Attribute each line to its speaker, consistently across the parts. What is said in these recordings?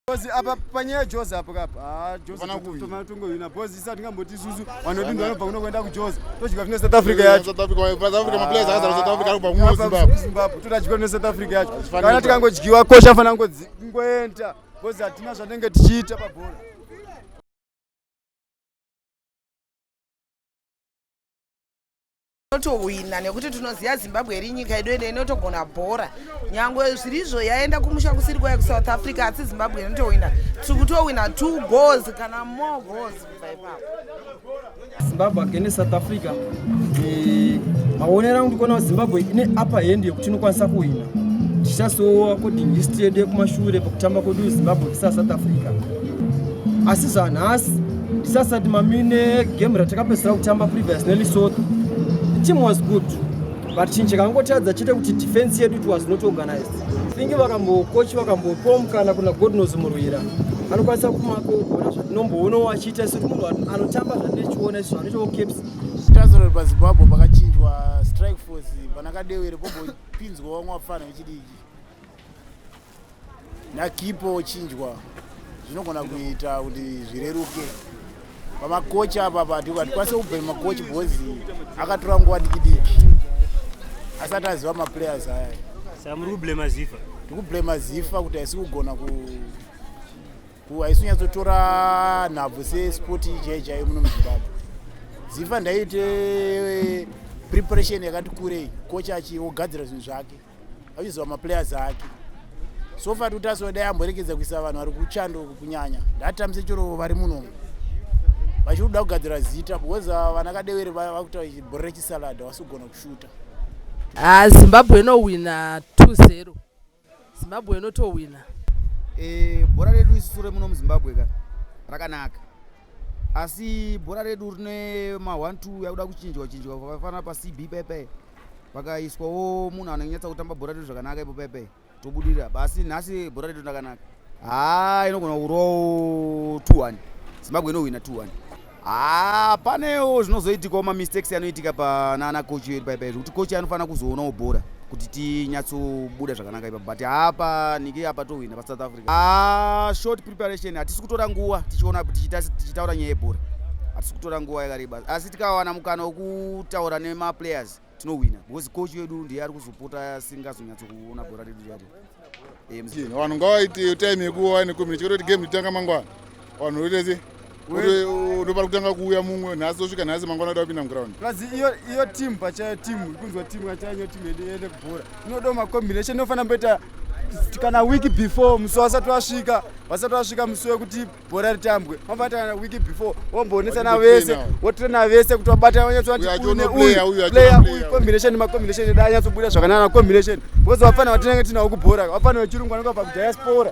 Speaker 1: Bozi apa panyaya Jozi apo kapa. Ah Jozi tuma tungo ina bozi isa tingamboti susu vanoti ndo vanobva kuno kuenda kuJozi. Todya kuno South Africa yacho. South Africa wa South Africa ma
Speaker 2: players akazara South Africa kubva kuno Zimbabwe. Zimbabwe todya kuno South
Speaker 1: Africa yacho. Kana tikangodyiwa kosha fana ngodzi ngoenda. Bozi hatina zvatenge tichiita pa bhola.
Speaker 3: tohwina nekuti tinoziva zimbabwe iri nyika yedu ende inotogona bhora nyangwe zvirizvo yaenda kumusha kusiri kwaya kusouth africa asi zimbabwe inotohwina tiri kutohwina two goals kana more goals kubva ipapo
Speaker 4: zimbabwe against south africa eh, maonero angu ndikuona kuti zimbabwe ine upper hand yekuti inokwanisa kuhwina tichasowa according history yedu yekumashure pakutamba kwedu zimbabwe vs south africa asi zvanhasi tisasati mami negame ratakapedzisira kutamba previous nelesotho team was good but chinhu chakangotadza chete kuti defense yedu it was not organized thingi vakambokochi vakambopom kana kuna godnos murwira anokwanisa kumakogona zvatinomboonawo achiita isu munhu anotamba zvatinochiona isu anoitawo caps tazorori
Speaker 2: pazimbabwe pakachinjwa strike force panakadewere pobopinzwa vamwe vapfana vechidiki nakipo ochinjwa zvinogona kuita kuti zvireruke pamakochi apa pati hatikwanise kubvema makochi because akatora nguva dikidiki asati aziva maplayers aya sa muri kublema
Speaker 5: zifa tikublema zifa
Speaker 2: kuti haisi kugona ku haisi kunyatsotora nhabvu sesport chai chaiyo muno muzimbabwe zifa ndaiite eh, preparation yakati kurei kochi achiogadzira zvinhu zvake achiziva maplayers ake so far tutaso dai amborekedza kuisa vanhu vari kuchando kunyanya ndatambise chero vari munomu vachiri kuda kugadzira zita because ah, vana kadewere vakuta bhorre chisalada vasi kugona kushuta ah,
Speaker 6: zimbabwe inowina 20 zimbabwe inotowina eh,
Speaker 7: bhora redu isu sure muno muzimbabwe ka rakanaka asi bhora redu rine ma 1 2 yakuda kuchinjwa chinjwa pakafanira pa cb pepe pakaiswawo munhu anonyatsa kutamba bhora redu zvakanaka ipo pepe tobudirira basi nhasi bhora redu ndakanaka haa inogona kurowo 21 zimbabwe inohwina 21 haa panewo zvinozoitikawo mamistakes anoitika panana kochi yedu paipai zvekuti kochi anofanira kuzoonawo bhora kuti tinyatsobuda zvakanaka ipa but hapa nike apa tohwina pasouth africa Ah, short preparation hatisi kutora nguva tichiona tichitaura nyaya yebhora hatisi kutora nguva yakareba asi tikawana mukana wekutaura nemaplayers tinohwina because coach wedu ndiye ari kuzopota asingazonyatso kuona bhora redu rati eh, vanhu ngavaite
Speaker 2: time yekuwa nekumira chikototi game itanga mangwana vanhu vetese unopara kutanga kuuya mumwe nhasi osvika nhasi mangwana kuda kupinda muground plus iyo iyo
Speaker 1: team pachayo team ikunzwa team kachayo team yedu yende kubhora inoda macombination inofanira mboita kana week before musi wasati wasvika vasati vasvika musi wekuti bhora ritambwe mabata kana week before womboonetsana vese wotrena vese kuti wabata wanyatsoatiuneuyucombination macombination eda anyatsobuda zvakanana combination because wafana watinenge tinawo kubhora wafana wechirungu anenge vabva kudiaspora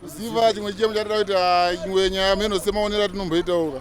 Speaker 2: kuziva chimwe chichemo chatida kuita imwe nyaya meno semaonero atinomboitauka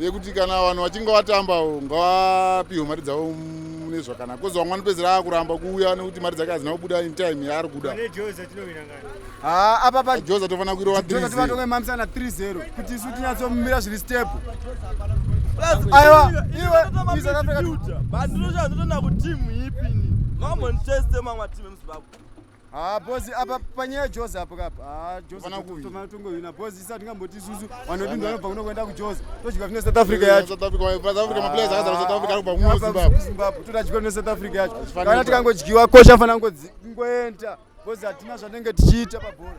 Speaker 2: yekuti kana vanhu vachinge vatambawo ngavapihwe mari dzavo mune zvakanaka kozi vamwe vanopedzera akuramba kuuya nekuti mari dzake hadzina kubuda in time yaari kuda
Speaker 1: ah, apapa joza tofanira
Speaker 2: kuirova tivatonge mamsana
Speaker 1: 3 0 kuti isu tinyatsomira zviri step aiwa iwe south africa but ndinoshaya ndotoenda
Speaker 7: kutimu ipi ni mamwe nditeste mamwe atimu emuzimbabwe Ah, boss
Speaker 1: apa panyaya Jozi apo kapa. Ah, Jozi Hapana kuvi. toma tungo yuna boss isati ngamboti isusu vanodini vanobva kuno kuenda ku Jozi. Todya kune South Africa yacho. South Africa, wa- South Africa,
Speaker 2: maplayers akazara South Africa arikubva kuno Zimbabwe. Zimbabwe. Todya kune
Speaker 1: South Africa yacho. Hazvifaniri Kana kuita. tikangodyiwa kosha afana ngodzi ngoenda. Boss hatina zvatinenge tichiita pabhora.